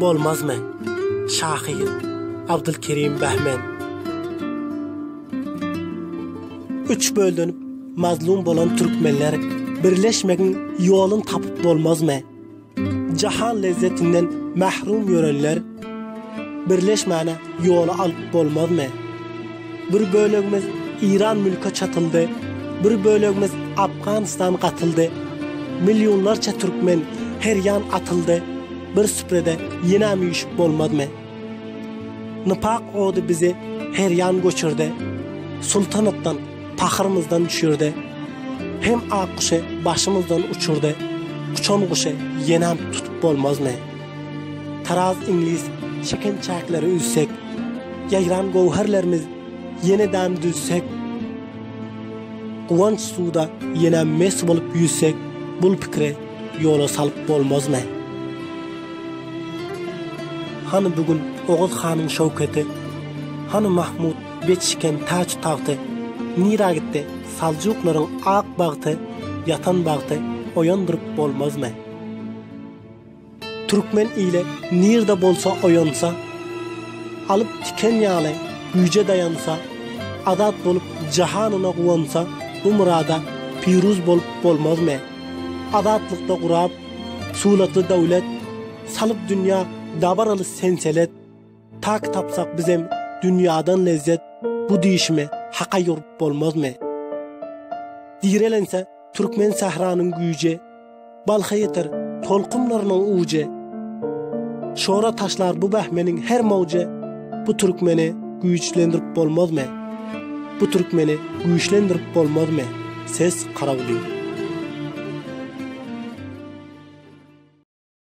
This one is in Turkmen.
Bolmazmy? Şahyr Abdulkerim Behmen. Üç bölünip mazlum bolan türkmenler birleşmegiň ýoluny tapyp bolmazmy? Jahan lezzetinden mahrum ýörenler Birleşmäne ýola alyp bolmazmy? Bir bölegimiz Iran mülke çatyldy, bir bölegimiz Afganistan gatyldy. Millionlarça türkmen her ýan atyldy, bir süprede ýenäm üýşüp bolmazmy? Nypak ody bizi her ýan göçürdi, sultanatdan, pahyrymyzdan düşürdi. Hem ak guşy başymyzdan uçurdy, uçan guşy ýenäm tutup bolmazmy? Taraz iňlis çeken çäkleri üzsek, Ýaýran gowherlerimiz ýene-dam düzsek, Guwanç suwda ýene mes bolup ýüzsek, Bul pikiri ýola salyp bolmazmy? Hany bu gün Oguz hanyň şöwketi, Hany Mahmut beg çiken taç-tagty, Nirä gitdi saljuklaryň ak bagty, Ýatan bagty oýandyryp bolmazmy? Türkmen ili nirde bolsa oýansa, Alyp tiken ýaly güýje daýansa, Azat bolup jahanyna guwansa, Bu myrada piruz bolup bolmazmy? Azatlykda gurap, suratly döwlet, Salyp dünýä dabaraly senselet, Tak tapsak bizem dünýadan lezzet Bu diýşime haka ýurup bolmazmy? Direlense türkmen sähranyň güýji Balha ýeter tolkunlarynyň ujy Şora taşlar bu bähmeniň her mowjy Bu türkmeni güýçlendirip bolmazmy? Bu türkmeni güýçlendirip bolmazmy? Ses Karawly.